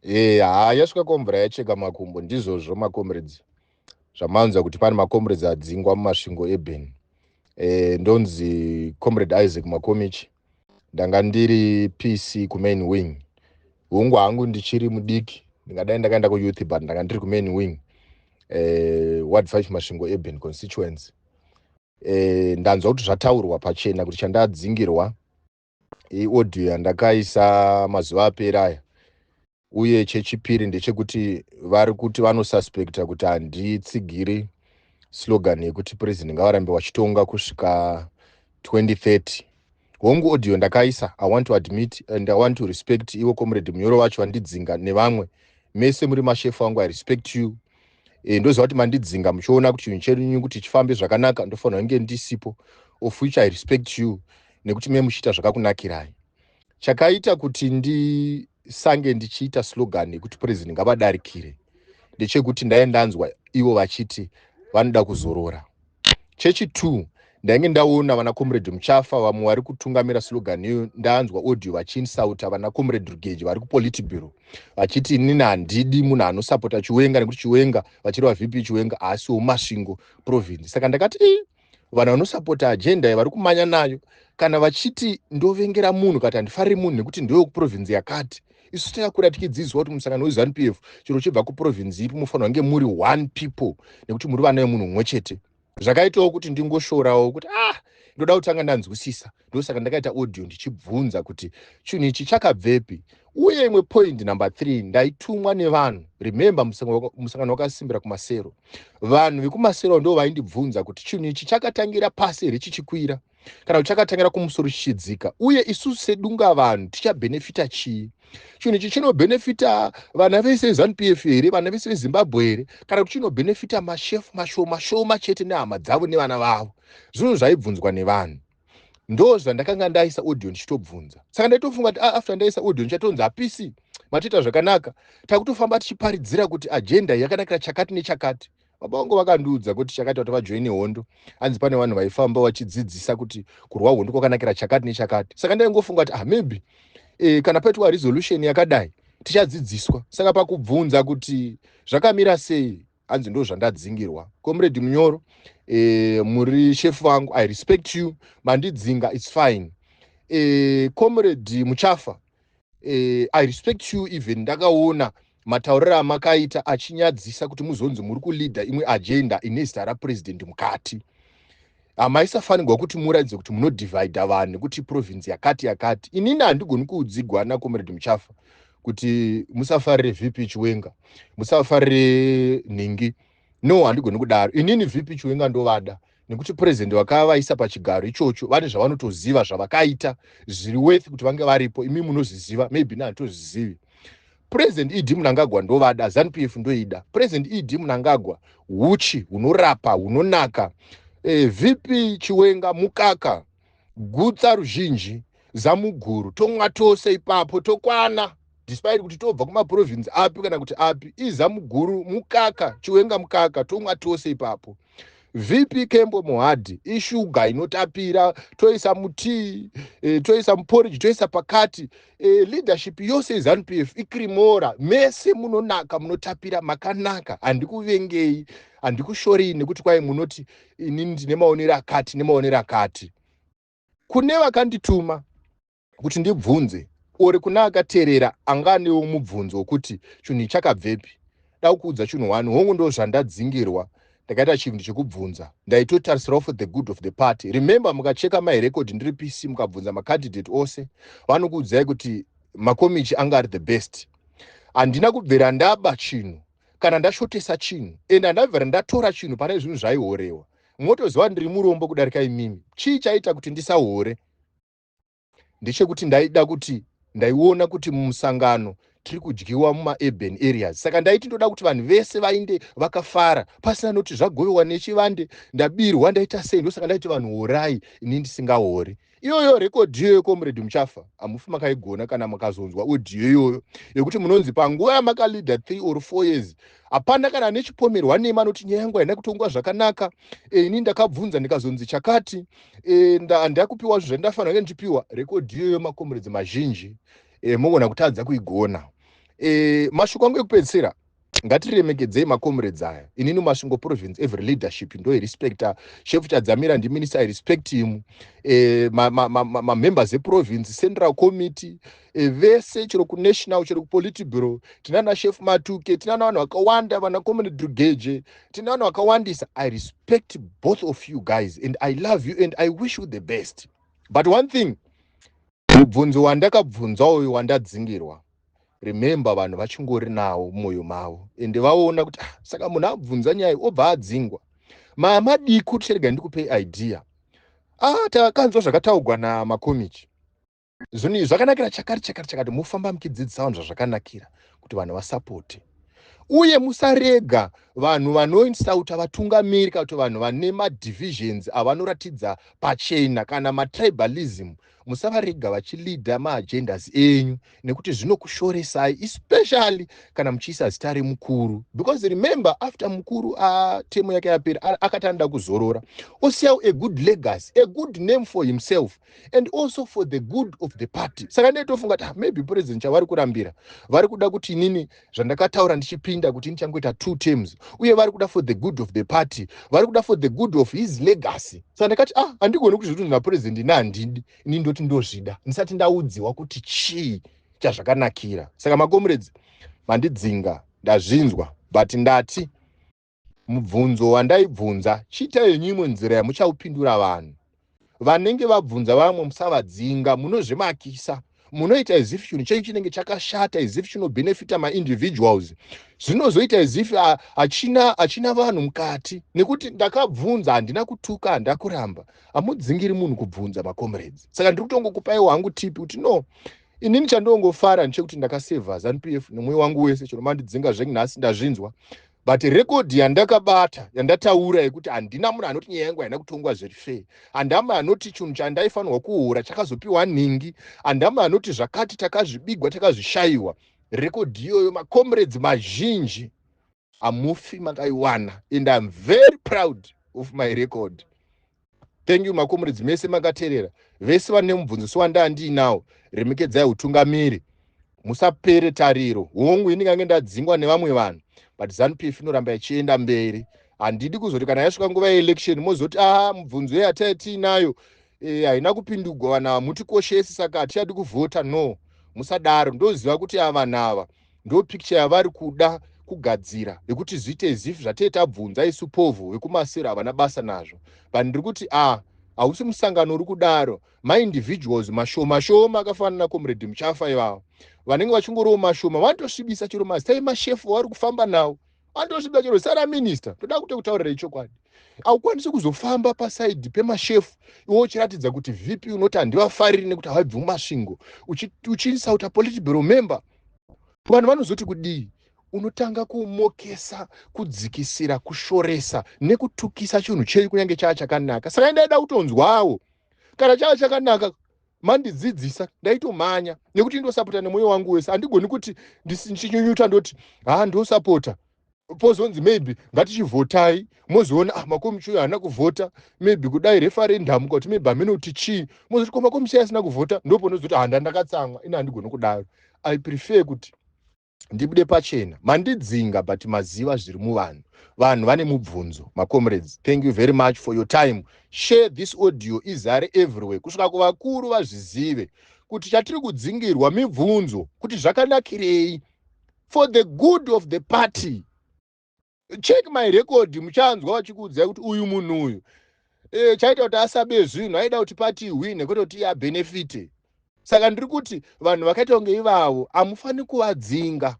Eh, haa yasvika komvura yacheka makumbo ndizvozvo macomrades zvamanzwa kuti pane macomrades adzingwa mumasvingo eben eh, ndonzi comrade isaac makomichi ndanga ndiri pc kumain wing hungu hangu ndichiri mudiki ndingadai ndakaenda kuyouth but ndanga ndiri kumain wing eh, ward 5 masvingo eben constituency eh, ndanzwa kuti zvataurwa pachena kuti chandadzingirwa iaudio yandakaisa mazuva aperi aya uye chechipiri ndechekuti vari kuti vanosuspecta kuti handitsigiri slogan yekuti president ngavarambe vachitonga kusvika 2030 hongu audio ndakaisa i want to admit and i want to respect ivo comrade munyoro vacho vandidzinga nevamwe mese muri mashefu angu i respect you e, ndoziva kuti mandidzinga muchiona kuti chinhu chenyu kuti chifambe zvakanaka ndofanira kunge ndisipo of which i respect you nekuti me muchiita zvakakunakirai chakaita kuti ndisange ndichiita slogan yekuti president ngavadarikire ndechekuti ndaye ndanzwa ivo vachiti vanoda kuzorora chechi two ndainge ndaona vana comrade muchafa vamwe vari kutungamira slogan iyo ndanzwa audio vachiinsauta vana comrade rugeji vari kupolitiburo vachiti inini handidi munhu anosapota chiwenga nekuti chiwenga vachireva vp chiwenga haasiwo masvingo province saka ndakati i vanhu vanosapota agenda ye vari kumanya nayo kana vachiti ndovengera munhu kati handifariri munhu nekuti ndewekuprovince yakati Isu tinakura tichidzidziswa kuti musangano weZanu PF chero uchibva kuprovinzi ipi mufanirwa kunge muri one people nekuti muri vana vemunhu mumwe chete. Zvakaitawo kuti ndingoshorawo kuti ah ndoda kutanga ndanzwisisa ndosaka ndakaita audio ndichibvunza kuti chinhu ichi chakabvepi uye imwe point number three ndaitumwa nevanhu remember musangano wakasimbira kumasero vanhu vekumasero ndo vaindibvunza kuti chinhu ichi chakatangira pasi here chichikwira kana kuti chakatangira kumusoro chichidzika uye isusu sedunga vanhu tichabhenefita chii chinhu ichi chinobhenefita vana vese vezanup f here vana vese vezimbabwe here kana kuti chinobhenefita mashefu mashoma shoma chete nehama dzavo nevana vavo zvinhu zvaibvunzwa nevanhu ndo zvandakanga ndaisa audio ndichitobvunza saka ndaitofunga kuti ah, after ndaisa audio ndichatonzi hapisi matoita zvakanaka takutofamba tichiparidzira kuti ajenda yakanakira chakati nechakati baba vangu vakandiudza kuti chakati vati vajoine hondo hanzi pane vanhu vaifamba vachidzidzisa kuti kurwa hondo kwakanakira chakati nechakati saka ndaingofunga kuti ah maybe e, kana paitwa resolution yakadai tichadzidziswa saka pakubvunza kuti zvakamira sei hanzi ndo zvandadzingirwa comrade munyoro e, muri shefu vangu i respect you mandidzinga its fine e, comrade muchafa eh, i respect you even ndakaona matauriro amakaita achinyadzisa kuti muzonzi muri kuleader imwe agenda ine zita rapresident mukati hamaisafanirwa kuti muratidze kuti munodivhidha vanhu kuti province yakati yakati inini handigoni kuudzigwa ana comrade muchafa kuti musafarire vp chiwenga musafarire nhingi no handigoni kudaro inini vp chiwenga ndovada nekuti president vakavaisa pachigaro ichocho vane zvavanotoziva zvavakaita zviri worth kuti vange varipo imi munozviziva maybe ne handitozvizivi president ed munangagwa ndovada zanp f ndoida president ed munangagwa huchi hunorapa hunonaka eh, vp chiwenga mukaka gutsa ruzhinji zamuguru tomwa tose ipapo tokwana despite kuti tobva kumaprovince api kana kuti api izamuguru mukaka chiwenga mukaka tomwa tose ipapo vp kembo muhadhi ishuga inotapira toisa mutii e, toisa muporiji toisa pakati e, leadership yose izanup f ikrimora mese munonaka munotapira makanaka handikuvengei handikushorei nekuti kwai munoti inini ndine maonero akati nemaonero akati kune vakandituma kuti ndibvunze ori kuna akateerera anga anewo mubvunzo wokuti chinhu chakabvepi da kuudza chinhu one hongu ndo zvandadzingirwa ndakaita chinhu chekubvunza ndaitotarisirawo for the good of the party remember mukacheka mahirekodhi ndiri pc mukabvunza macandidate ose vanokuudzai kuti makomichi anga ari the best handina kubvira ndaba chinhu kana ndashotesa chinhu and handabvere ndatora chinhu pane zvinhu zvaihorewa motoziva ndiri murombo kudarika imimi chii chaita kuti ndisahore ndechekuti ndaida kuti ndaiona kuti mumusangano tiri kudyiwa mumaurban areas saka ndaiti ndoda kuti vanhu vese vainde vakafara pasina noti zvagovewa nechivande ndabirwa ndaita sei ndosaka ndaiti vanhu horai ini ndisingahori Iyoyo record iyoyo comrade muchafa hamufi makaigona kana makazonzwa audio iyoyo yekuti munonzi panguva yamakaleader three or four years hapana kana ane chipomerwa nemi anoti nyaya yangu haina kutongwa zvakanaka e, ini ndakabvunza ndikazonzi chakati e, eh, handina kupiwa zvinhu zvandafanira kunge ndichipiwa record iyoyo macomrades mazhinji e, mogona kutadza kuigona e, mashoko angu ekupedzisira Ngatiremekedzei ma comrades aya. Inini Masvingo province every leadership ndoi respecter. Shefu Chadzamira ndi minister I respect him. Eh, ma, ma, ma, ma, ma members e province, central committee, eh, vese chero ku national chero ku politburo. Tinana chef Matuke, tinana vanhu vakawanda vana comrade Drugeje, tinana vakawandisa. I respect both of you guys and I love you and I wish you the best. But one thing, mubvunzo wandakabvunza uyu wandadzingirwa. remember vanhu vachingori nawo mumwoyo mavo ende vaona kuti ah, saka munhu abvunza nyaya obva adzingwa mamadiko ticharega ndikupei idea ah, takanzwa zvakataugwa namakomichi zvinhu zvakanakira chakati chakati chakati mofamba muchidzidzisa vanhu zvazvakanakira kuti vanhu vasapote uye musarega vanhu vanoinsauta vatungamiri kana kuti vanhu vane madivisions avanoratidza pachena kana matribalism musavarega vachilida maagendas enyu nekuti zvinokushoresai especially kana muchiisa zita remukuru because remember after mukuru atemu yake yapera akati anoda kuzorora osiyawo a good legacy a good name for himself and also for the good of the party saka ndee tofunga kuti ah, maybe president chavari kurambira vari kuda kuti inini zvandakataura ndichipinda kuti ndichangoita two terms uye vari kuda for the good of the party vari kuda for the good of his legacy saka ndakati ah handigoni kuzviti kuti napurezidendi ina handidi ini ndoti ndozvida ndisati ndaudziwa kuti chii chazvakanakira saka makomuredzi mandidzinga ndazvinzwa but ndati Mubvunzo wandaibvunza, chiitai henyu imwe nzira yamuchaupindura vanhu. Vanenge vabvunza vamwe musavadzinga, munozvimakisa. Munoita as if chinhu chenyu chinenge chakashata, as if chinobenefita maindividuals. Zvinozoita as if ah, hachina hachina vanhu mukati. Nekuti ndakabvunza, handina kutuka, handina kuramba. Hamudzingiri munhu kubvunza macomrades. Saka ndiri kutongokupaiwo hangu tipi kuti no, inini chandongofara ndichekuti ndakaseva zanupf nemwoyo wangu wese chero mandidzinga zvekunhasi ndazvinzwa but rekodhi yandakabata yandataura yekuti handina munhu anoti nyaya yangu haina kutongwa zviri fair handina munhu anoti chinhu chandaifanirwa kuhura chakazopiwa nhingi handina munhu anoti zvakati takazvibigwa takazvishayiwa rekodhi iyoyo macomrades mazhinji hamufi makaiwana and iam very proud of my record Thank you makomuridzi mese makaterera vese vane mubvunziso wandandiinawo remekedzai utungamiri musapere tariro hongu ini ngange ndadzingwa nevamwe vanhu but zanu pf inoramba ichienda mberi handidi kuzoti kana yasvika nguva yeelection mozoti aha mubvunzo ye hataya tiinayo eh, haina e, kupindugwa vanhu ava mutikoshesi saka hatichadi kuvhota no musadaro ndoziva kuti ava vanhu ava ndo picture yavari kuda kugadzira yekuti zviite as if zvatee tabvunza isu povho vekumasero havana basa nazvo but ndiri kuti ah hausi musangano uri kudaro maindividuals mashoma shoma akafanana nacomrade muchafa ivavo vanenge vachingoriwo mashoma vanotosvibisa chero mazita emashefu wavari kufamba nawo andosvida chero sara minister toda kute kutaurira ichokwadi haukwanisi kuzofamba pasaidi pemashefu iwe uchiratidza kuti vp unoti handivafariri nekuti havaibvi mumasvingo uchiinsauta uchi politibero member vanhu vanozoti kudii unotanga kumokesa kudzikisira kushoresa nekutukisa chinhu chei kunyange chaa chakanaka saka ndaida kutonzwawo kana chaa chakanaka mandidzidzisa ndaitomhanya nekuti ndosapota nemwoyo wangu wese handigoni kuti ndichinyunyuta ndoti haa ndosapota pozonzi maybe ngatichivhotai mozoona ah makomichi uyo haana kuvhota maybe kudai referendum kuti maybe hameno kuti chii mozoti ko makomichi asina kuvhota ndoponozoti handa ndakatsamwa ini handigoni kudaro i prefer kuti ndibude pachena mandidzinga but maziva zviri muvanhu vanhu vane mubvunzo macomrades thank you very much for your time share this audio izare everywhere kusvika kuvakuru vazvizive kuti chatiri kudzingirwa mibvunzo kuti zvakanakirei for the good of the party check my record muchanzwa vachikuudzai kuti uyu munhu uyu e, chaita kuti asabe zvinhu aida kuti pati hwine kwete kuti abenefite saka ndiri kuti vanhu vakaita kunge ivavo hamufaniri kuvadzinga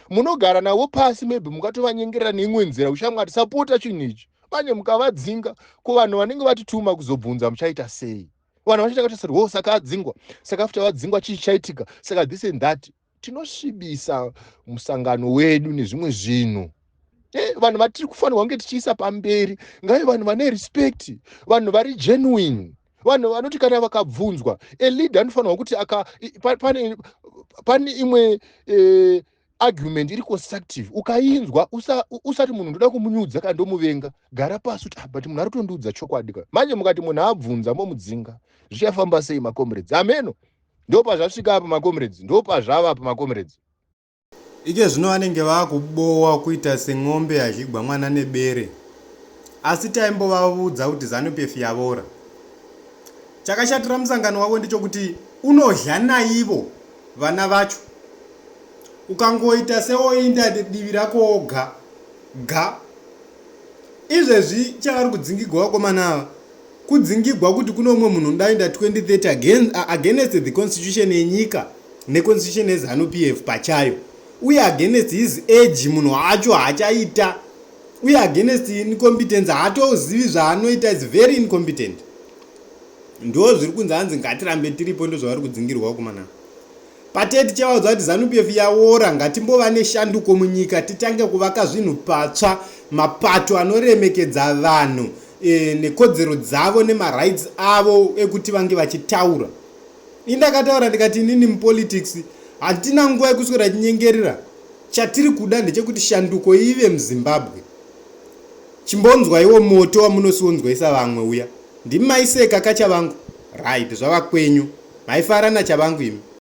munogara navo pasi maybe mukatovanyengerera neimwe nzira kushamwati sapota chinhu ichi manje mukavadzinga ko vanhu vanenge vatituma kuzobvunza muchaita sei vanhu vachaita kutarisirwa oh, saka adzingwa saka after vadzingwa chii chaitika saka this and that tinosvibisa musangano wedu nezvimwe zvinhu eh, vanhu vatiri kufanirwa kunge tichiisa pamberi ngave vanhu vane respect vanhu vari genuine vanhu vanoti kana vakabvunzwa eleader anofanirwa kuti aka pane, pane imwe eh, argument iri constructive ukainzwa usati usa munhu ndoda kumunyudza kana ndomuvenga gara pasi kuti ah, but munhu ari kutondiudza chokwadi ka manje mukati munhu abvunza momudzinga zvichafamba sei macomrades ameno Ndopazvasvika apa makomrades, ndopazvava apa makomrades. Iche zvino vanenge vakubowa kuita sen'ombe yadhligwa mwana nebere asi taimbovavudza kuti zanupf yavora. Chakashatira musangano wavo ndechokuti unodhla naivo vana vacho ukangoita seoinda divi rako oga ga. Izvezvi chavari kudzingigwa vakomana ava kudzingigwa kuti kune umwe munhu unodainda 2030 against the constitution yenyika neconstitution yezanu p f pachayo uye against his age munhu wacho haachaita uye against incompetence haatozivi zvaanoita is very incompetent ndo zviri kunzi hanzi ngatirambe tiripo ndozvavari kudzingirwa vakomana ava Pate tichavaudza kuti ZanuPF yaora, ngatimbova neshanduko munyika titange kuvaka zvinhu patsva, mapato anoremekedza vanhu e, nekodzero dzavo nemarights avo ekuti vange vachitaura. Ini ndakataura ndikati inini mupolitics hatina nguva yekuswera chinyengerera chatiri kuda ndechekuti shanduko ive muzimbabwe chimbonzwaiwo moto wamunosionzwaisa vamwe uya ndimi maiseka kachavangu right zvava kwenyu maifara nachavangu imi